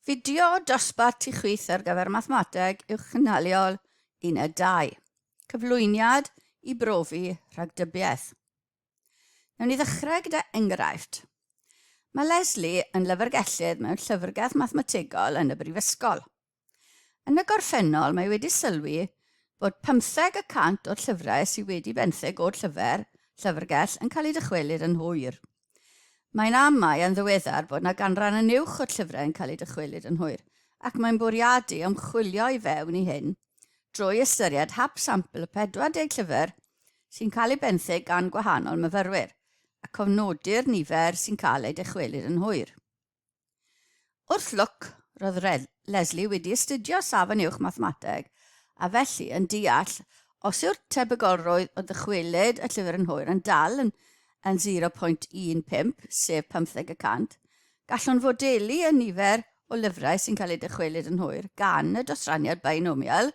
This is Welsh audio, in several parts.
Fideo dosbarth tu chwith ar gyfer mathemateg uwchgynhaliol uned 2. Cyflwyniad i brofi rhagdybiaeth. Newn ni ddechrau gyda enghraifft. Mae Leslie yn lyfrgellydd mewn llyfrgell mathemategol yn y brifysgol. Yn y gorffennol, mae wedi sylwi bod pymtheg y cant o'r llyfrau sydd wedi benthyg o'r llyfr, llyfrgell, yn cael eu dychwelyd yn hwyr. Mae'n amau yn ddiweddar bod na ganran yn uwch o'r llyfrau yn cael eu dychwelyd yn hwyr, ac mae'n bwriadu ymchwilio i fewn i hyn drwy ystyried hap sampl y 40 llyfr sy'n cael eu benthyg gan gwahanol myfyrwyr, a cofnodi'r nifer sy'n cael eu dychwelyd yn hwyr. Wrth lwc, roedd Lesley wedi astudio Safon Uwch Mathemateg a felly yn deall os yw'r tebygolrwydd o ddychwelyd y llyfr yn hwyr yn dal yn yn 0.15, sef pymtheg y cant, gallwn fodelu y nifer o lyfrau sy'n cael eu dychwelyd yn hwyr gan y dosraniad bainomial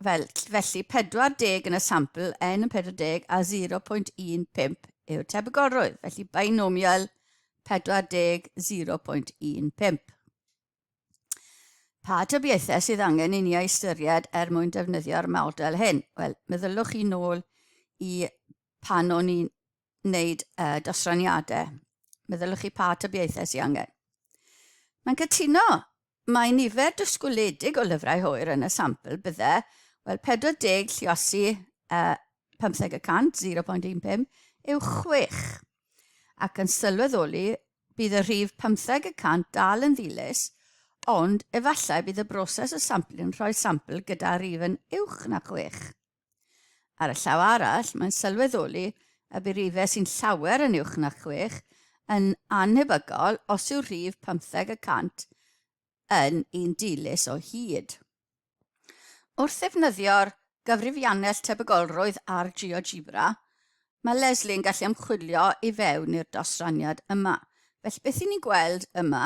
Fel, felly 40 yn y sampl, n yn 40 a 0.15 yw'r tebygolrwydd. Felly binomial 40 0.15. Pa tybiaethau sydd angen i ni ei ystyried er mwyn defnyddio'r model hyn? Wel, meddyliwch chi nôl i pan o'n i'n wneud uh, dosraniadau. Meddyliwch chi pa tybiaethau sy'n angen. Mae'n cytuno, mae nifer dysgwyledig o lyfrau hwyr yn y sampl bydde, wel 40 lliosi uh, 15 y cant, 0.15, yw 6. Ac yn sylweddoli, bydd y rhif 15 y cant dal yn ddilys, ond efallai bydd y broses y sampl yn rhoi sampl gyda rhif yn uwch na 6. Ar y llaw arall, mae'n sylweddoli y bu rifau sy'n llawer yn uwch na chwech yn annhebygol os yw'r rhif pymtheg y cant yn un dilys o hyd. Wrth ddefnyddio'r gyfrifiannell tebygolrwydd ar GeoGebra, mae Leslie yn gallu ymchwilio i fewn i'r dosraniad yma. Felly beth 'yn ni'n gweld yma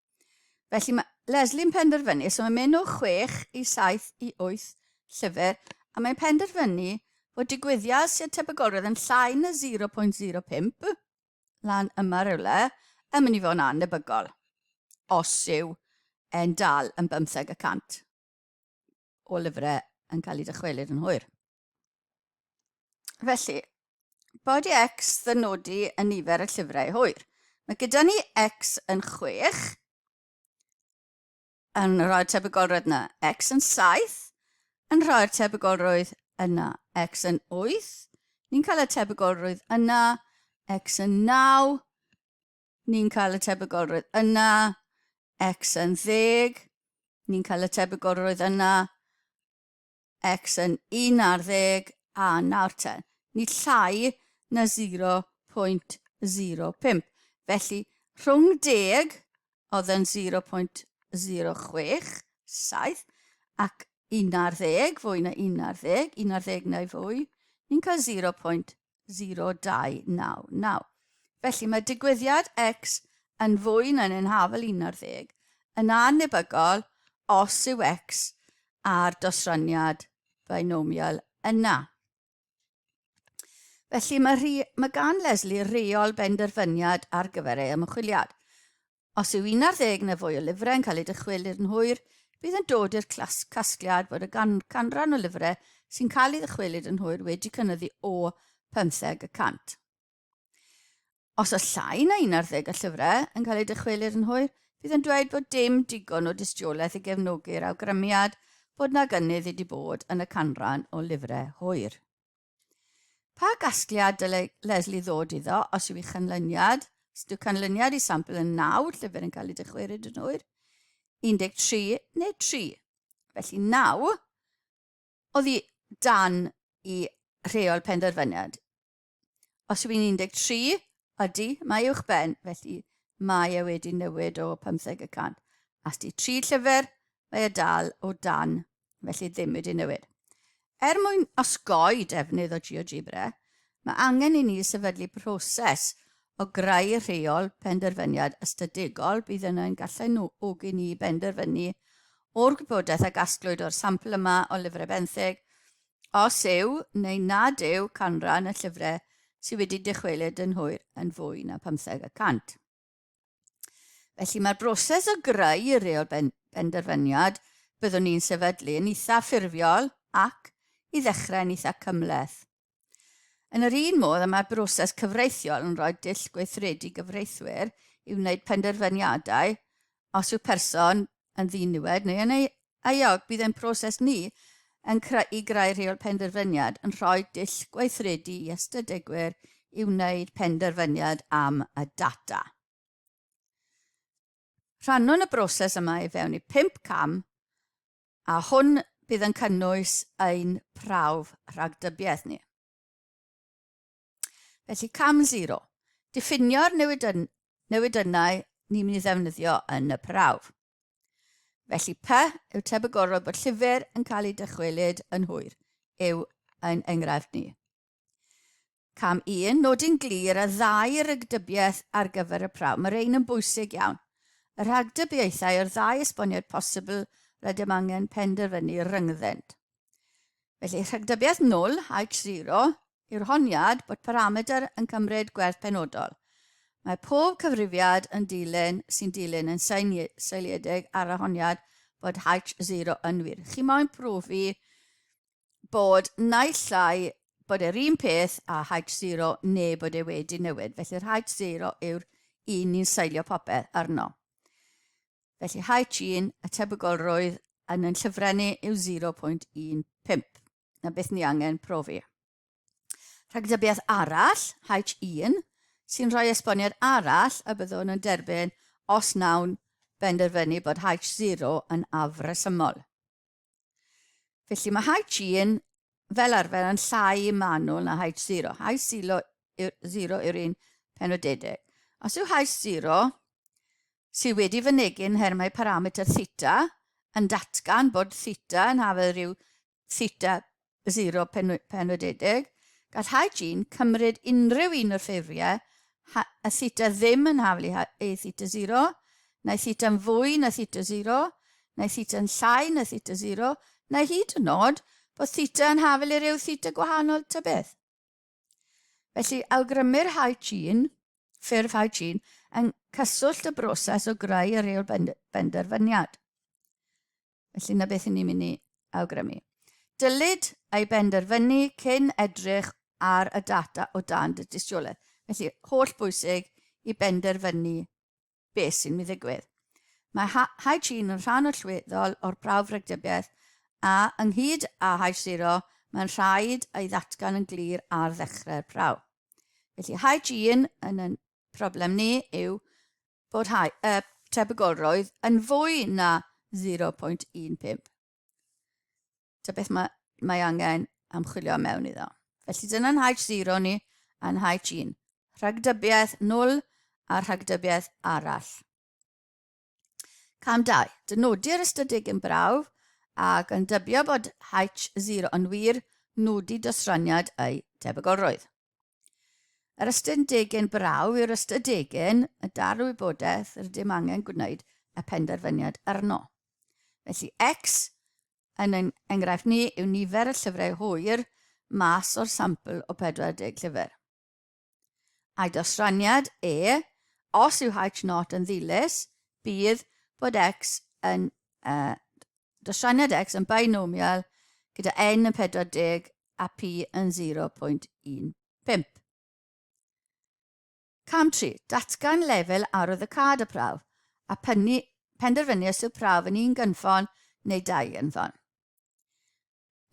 Felly mae Leslie yn penderfynu, so mae'n mynd o 6 i 7 i 8 llyfr, a mae'n penderfynu fod digwyddiad sy'n tebygolrwydd yn llai na 0.05 lan yma rhywle yn mynd i fod yn annebygol, os yw e'n dal yn bymtheg y cant o lyfrau yn cael eu dychwelyd yn hwyr. Felly, body X ddynodi yn nifer y llyfrau hwyr. Mae gyda ni X yn 6, yn rhoi'r tebygolrwydd yna. X yn 7, yn rhoi'r tebygolrwydd yna. X yn 8, ni'n cael y tebygolrwydd yna. X yn 9, ni'n cael y tebygolrwydd yna. X yn 10, ni'n cael y tebygolrwydd yna. X yn un ar ddeg a nawr te, nid llai na 0.05. Felly, rhwng deg oedd yn 0.067 ac un ar ddeg, fwy na un ar ddeg, un ar ddeg neu fwy, ni'n cael 0.0. 0299. Felly mae digwyddiad X yn fwy na'n yn hafel 11 yn annebygol os yw X a'r dosraniad binomial yna. Felly mae, rhi, mae gan Leslie reol benderfyniad ar gyfer ei ymchwiliad. Os yw 11 neu fwy o lyfrau yn cael eu dychwelyd yn hwyr, bydd yn dod i'r casgliad bod y gan canran o lyfrau sy'n cael ei ddychwelyd yn hwyr wedi cynyddu o 15 y cant. Os oes llai na 11 o llyfrau yn cael eu dychwelyd yn hwyr, bydd yn dweud bod dim digon o dystiolaeth i gefnogi'r awgrymiad bod na gynnydd wedi bod yn y canran o lyfrau hwyr. Pa gasgliad dylai Leslie ddod iddo os yw ei chanlyniad? Os yw canlyniad i sampl yn 9, llyfr yn cael ei dychwerid yn hwyr, 13 neu 3. Felly 9 oddi dan i rheol penderfyniad. Os yw yn 13, ydy, mae uwch ben, felly mae e wedi newid o 50 y cant. As di tri llyfr, mae e dal o dan felly ddim wedi newid. Er mwyn osgoi defnydd o GeoGebra, mae angen i ni sefydlu proses o greu rheol penderfyniad ystadegol bydd yna yn galluogi ni benderfynu o'r gwybodaeth a gasglwyd o'r sampl yma o lyfrau benthyg, os yw neu nad yw canran y llyfrau sydd wedi dychwelyd yn hwyr yn fwy na 50 y cant. Felly mae'r broses o greu y reol ben benderfyniad byddwn ni'n sefydlu yn eitha ffurfiol ac, i ddechrau, yn eitha cymleth. Yn yr un modd y mae broses cyfreithiol yn rhoi dull gweithredu gyfreithwyr i wneud penderfyniadau os yw person yn ddiniwed neu yn euog, bydd ein proses ni yn creu, i greu rheol penderfyniad yn rhoi dull gweithredu i ystadegwyr i wneud penderfyniad am y data. Rhannwn y broses yma i fewn i pump cam, a hwn bydd yn cynnwys ein prawf rhagdybiaeth ni. Felly cam zero, diffinio'r newidyn, newidynnau ni'n mynd i ddefnyddio yn y prawf. Felly py yw tebygolrwydd bod llyfr yn cael ei dychwelyd yn hwyr yw yn enghraifft ni. Cam 1, nodi'n glir a ddau rygdybiaeth ar gyfer y prawf. Mae'r ein yn bwysig iawn. Y rhagdybiaethau o'r ddau esboniad posibl rydym angen penderfynu ryngddynt. Felly, rhagdybiaeth null H0 yw'r honiad bod parametr yn cymryd gwerth penodol. Mae pob cyfrifiad yn dilyn sy'n dilyn yn seiliedig ar y honiad bod H0 yn wir. Chi moyn profi bod naill llai bod e'r un peth a H0 neu bod e wedi newid. Felly'r H0 yw'r un ni'n seilio popeth arno. Felly H1, y tebygolrwydd yn yn llyfrennu yw 0.15. Na beth ni angen profi. Rhagdybiaeth arall, H1, sy'n rhoi esboniad arall y byddwn yn derbyn os nawn benderfynu bod H0 yn afresymol. Felly mae H1 fel arfer yn llai manwl na H0. H0 yw'r un penodedig. Os yw H0 sydd wedi fynegu yn nhermau parametr theta yn datgan bod theta yn hafedd rhyw theta 0 penodedig, gall Hygiene cymryd unrhyw un o'r ffeiriau a theta ddim yn haflu i ei theta 0, neu theta'n fwy na theta 0, neu theta'n llai na theta 0, neu hyd yn nod bod theta yn haflu rhyw theta gwahanol ta beth. Felly, awgrymir Hygiene, ffurf Hygiene, yn cyswllt y broses o greu y rheol benderfyniad. Felly 'na beth 'yn ni'n mynd i awgrymu. Dylid ei benderfynu cyn edrych ar y data o dan dy dystiolaeth. Felly, holl bwysig i benderfynu beth sy'n mynd i ddigwydd. Mae Hygiene yn rhan allweddol o'r prawf rhagdybiaeth a, ynghyd â H0, mae'n rhaid ei ddatgan yn glir ar ddechrau'r prawf. Felly Hygiene yn y Problem ni yw bod rhai, y tebygolrwydd yn fwy na 0.15. Ta beth mae, mae angen amchwilio mewn iddo. Felly dyna'n H0 ni a'n H1. Rhagdybiaeth 0 a rhagdybiaeth arall. Cam 2. Dynodir ystadeg yn brawf ac yn dybio bod H0 yn wir, nodi dosraniad ei debygolrwydd. Yr ystadegyn brawf yw'r ystadegyn y dal y wybodaeth rydym angen gwneud y penderfyniad arno. Felly X yn ein enghraifft ni yw nifer y llyfrau hwyr mas o'r sampl o 40 llyfr. A'i dosraniad e, os yw H0 yn ddilys, bydd bod x yn uh, dosraniad x yn binomial gyda n yn 40 a p yn 0.15. Cam 3. Datgan lefel arwydd y cad a prawf a pennu, penderfynu os yw prawf yn un gynffon neu dau gynffon.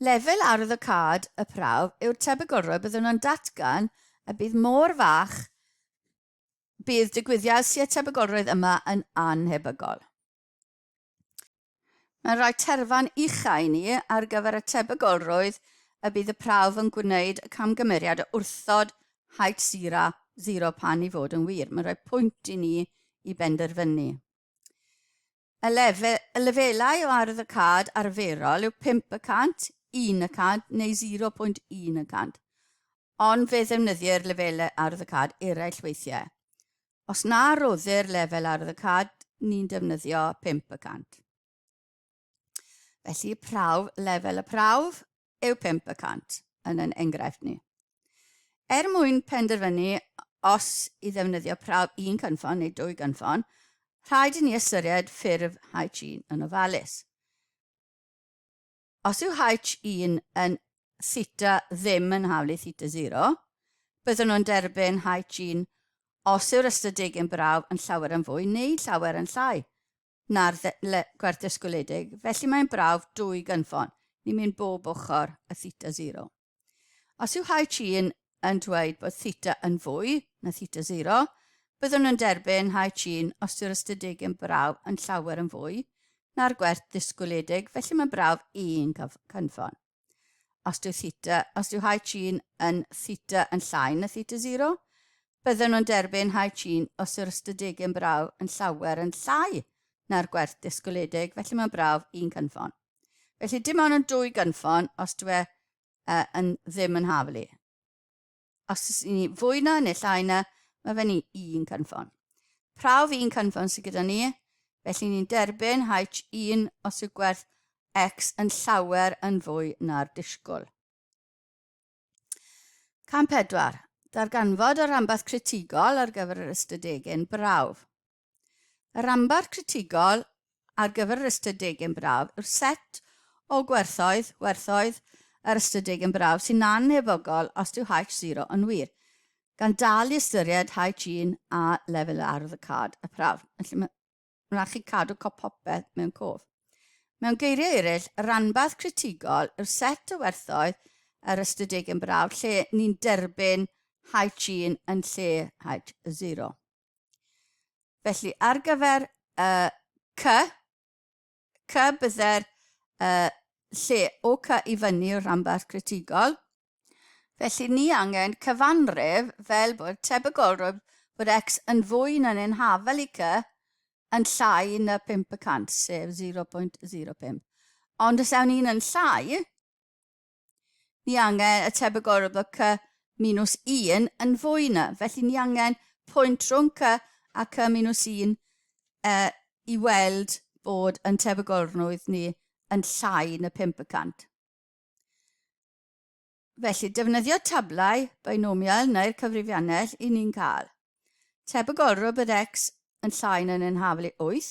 Lefel ardd y cad, y prawf, yw'r tebygolrwydd byddwn yn datgan y bydd mor fach bydd digwyddiad sydd â tebygolrwydd yma yn annhebygol. Mae'n rhoi terfan uchaf i ni ar gyfer y tebygolrwydd y bydd y prawf yn gwneud y camgymeriad o wrthod height zero, zero pan i fod yn wir. Mae'n rhoi pwynt i ni i benderfynu. Y lefelau o arwyddocâd arferol yw 5 y cant, 1 y cant neu 0.1 y cant, ond fe ddefnyddir lefelau arwyddocâd eraill weithiau. Os na roddir lefel arwyddocâd, ni'n defnyddio 5 y cant. Felly, prawf, lefel y prawf, yw pump y cant yn yn enghraifft ni. Er mwyn penderfynu os i ddefnyddio prawf un cynffon neu dwy gynffon, rhaid i ni ystyried ffurf H1 yn ofalus. Os yw H1 yn theta ddim yn hawl i theta 0, byddwn nhw'n derbyn H1 os yw'r ystadegyn brawf yn llawer yn fwy neu llawer yn llai na'r dde gwerth dysgwyledig, felly mae'n brawf dwy gynffon, ni'n mynd bob ochr y theta zero. Os yw Hai Chi yn, yn dweud bod theta yn fwy na theta zero, byddwn yn derbyn Hai Chi'n os yw'r ystadeg yn brawf yn llawer yn fwy na'r gwerth ddysgwyledig, felly mae'n brawf un cynffon. Os dyw theta, os dyw high chin yn theta yn llai na theta 0, bydden nhw'n derbyn high chin os yw'r ystadegyn brawf yn llawer yn llai na'r gwerth disgwyledig, felly mae'n brawf un cynffon. Felly dim ond yn dwy gynffon os dwi e, uh, yn ddim yn haflu. Os ys ni fwy na neu llai na, mae fe ni un cynffon. Prawf un cynffon sydd gyda ni, felly ni'n derbyn H1 os yw gwerth X yn llawer yn fwy na'r disgwyl. Cam 4. Darganfod y rhanbarth critigol ar gyfer yr ystadegyn brawf. Y rhanbarth critigol ar gyfer yr ystadegau yn braf yw'r set o gwerthoedd, werthoedd, yr ystadegau yn braf sy'n annhebygol os dyw H0 yn wir, gan dal i ystyried H1 a lefel ardd y cad, y prawf. Felly mae'n rhaid chi cadw cop popeth mewn cof. Mewn geiriau eraill, y rhanbarth critigol yw'r set o werthoedd yr ystadegau yn braf lle ni'n derbyn H1 yn lle H0. Felly, ar gyfer y cy, cy bydde'r uh, lle o cy i fyny yw'r rhanbarth critigol. Felly, ni angen cyfanrif fel bod tebygolrwydd bod x yn fwy na'n ein hafel i cy yn llai na 5 y cant, sef 0.05. Ond os ewn ni'n yn llai, Ni angen y tebygol bod cy minus 1 yn fwy na, felly ni angen pwynt rhwng cy a cy minus 1 e, i weld bod yn tebygolrwydd ni yn llai na 5 y cant. Felly, defnyddio tablau binomial neu'r cyfrifiannell i ni'n cael. Tebygolrwydd bod x yn llai na'n haflu 8,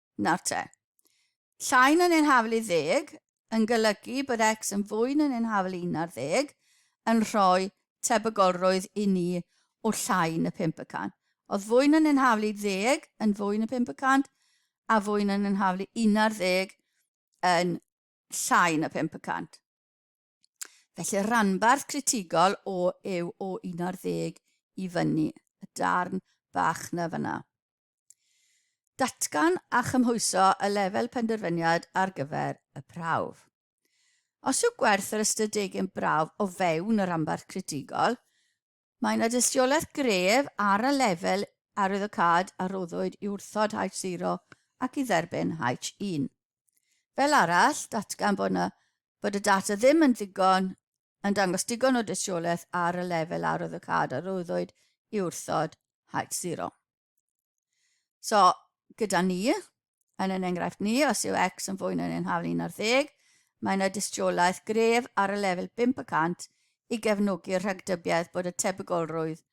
Nawr te. Llai na neu'n hafel i ddeg yn golygu bod X yn fwy na neu'n hafel i un ar ddeg yn rhoi tebygolrwydd i ni o llai na phump y cant. Oedd fwy na neu'n hafel i ddeg yn fwy na phump y cant a fwy na neu'n hafel i un ar ddeg yn llai na phump y cant. Felly'r rhanbarth critigol o yw o un ar ddeg i fyny, y darn bach na fyna. Datgan a chymhwyso y lefel penderfyniad ar gyfer y prawf. Os yw gwerth yr ystadegyn brawf o fewn y rhanbarth critigol, mae yna dystiolaeth gref ar y lefel arwyddocâd a rhoddwyd i wrthod H0 ac i dderbyn H1. Fel arall, datgan bod, na, bod y data ddim yn ddigon yn dangos digon o dystiolaeth ar y lefel arwyddocâd a rhoddwyd i wrthod H0. So, gyda ni, yn yn enghraifft ni, os yw x yn fwy na neu'n hafel 1 ar ddeg, mae yna dystiolaeth gref ar y lefel 500 i gefnogi'r rhagdybiaeth bod y tebygolrwydd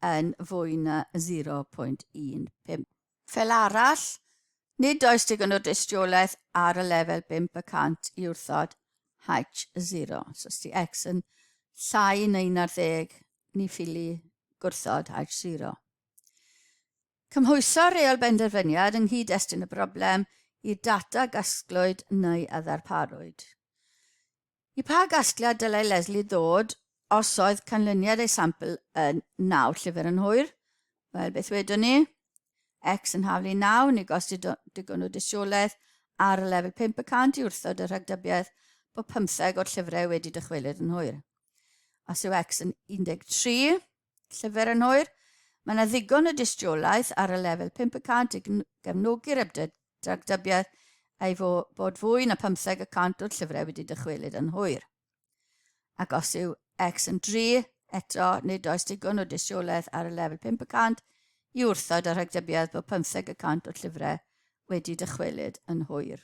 yn fwy na 0.15. Fel arall, nid oes digon o dystiolaeth ar y lefel 500 i wrthod H0. So, os di x yn llai na 11, ni ffili gwrthod H0. Cymhwyso reol benderfyniad yng nghyd-destun y broblem i'r data gasglwyd neu a ddarparwyd. I pa gasgliad dylai Leslie ddod os oedd canlyniad ei sampl yn 9 llyfr yn hwyr? Wel, beth wedwn ni? X yn haflu 9, ni gosti digon o dystiolaeth ar y lefel 500 i wrthod y rhagdybiaeth bod pymtheg o'r llyfrau wedi dychwelyd yn hwyr. Os yw X yn 13, Llyfr yn hwyr, mae yna ddigon o dystiolaeth ar y lefel 500 i gefnogi'r ymdragdybiaeth ei fo, bod fwy na 15 y cant o'r llyfrau wedi dychwelyd yn hwyr. Ac os yw X yn dri, eto, nid oes digon o dystiolaeth ar y lefel 500 i wrthod y rhagdybiaeth bod 15 y cant o'r llyfrau wedi dychwelyd yn hwyr.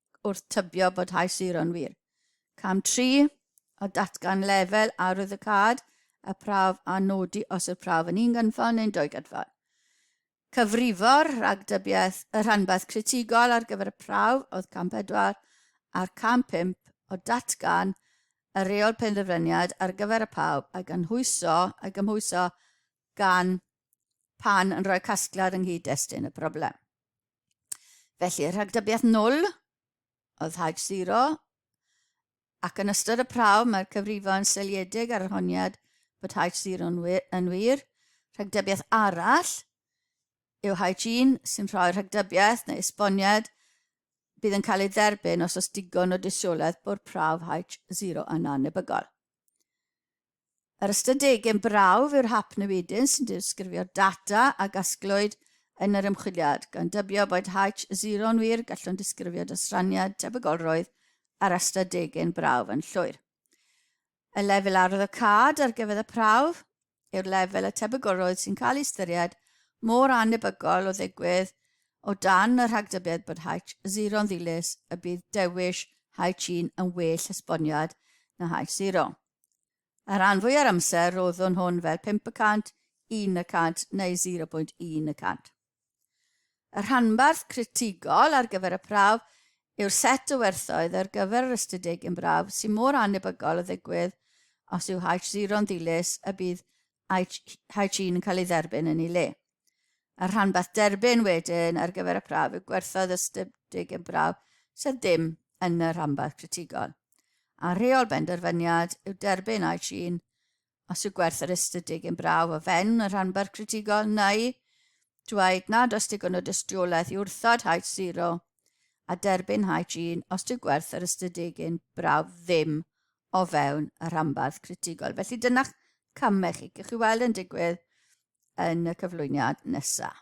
wrth tybio bod High Zero yn wir. Cam 3, a datgan lefel arwyddocâd y prawf a nodi os yw'r prawf yn un gynffon neu'n dwy gynffon. Cyfrifo'r rhagdybiaeth y rhanbarth critigol ar gyfer y prawf oedd cam 4 a'r cam 5 o datgan y reol penderfyniad ar gyfer y pawb a gynhwyso a gymhwyso gan pan yn rhoi casgliad yng nghyd-destun y broblem. Felly, rhagdybiaeth nwl oedd Haig Siro, ac yn ystod y prawf mae'r cyfrifo yn seliedig ar yr honiad bod Haig Siro yn wir. Rhagdybiaeth arall yw Haig Un sy'n rhoi rhagdybiaeth neu esboniad bydd yn cael ei dderbyn os oes digon o dystiolaeth bod prawf Haig Siro yn annebygol. Yr ystadegyn brawf yw'r hap newidyn sy'n disgrifio data a gasglwyd yn yr ymchwiliad, gan dybio bod H0 yn wir, gallwn disgrifio dosraniad tebygolrwydd ar ystadegyn brawf yn llwyr. Y lefel arwyddocâd ar gyfer y prawf yw'r lefel y tebygolrwydd sy'n cael ei ystyried mor annebygol o ddigwydd o dan y rhagdybiad bod H0 yn ddilys y bydd dewis H1 yn well esboniad na H0. Y rhan fwy o'r amser roeddwn hwn fel 5 y cant, 1 y cant neu 0.1 y cant. Y rhanbarth critigol ar gyfer y prawf yw'r set o werthoedd ar gyfer yr ystydig yn braf sy'n mor annebygol o ddigwydd os yw H0 yn ddilys y bydd H1 yn cael ei dderbyn yn ei le. A'r rhanbarth derbyn wedyn ar gyfer y prawf y gwerthoedd ystydig yn braf sydd ddim yn y rhanbarth critigol. A rheol benderfyniad yw derbyn a'i trin os yw gwerth yr ystydig yn braf o fewn y rhanbarth critigol neu dweud nad oes digon o dystiolaeth i wrthod haid siro a derbyn haid trin os yw gwerth yr ystydig yn braf ddim o fewn y rhanbarth critigol. Felly dyna camau chi. Gewch chi weld yn digwydd yn y cyflwyniad nesaf.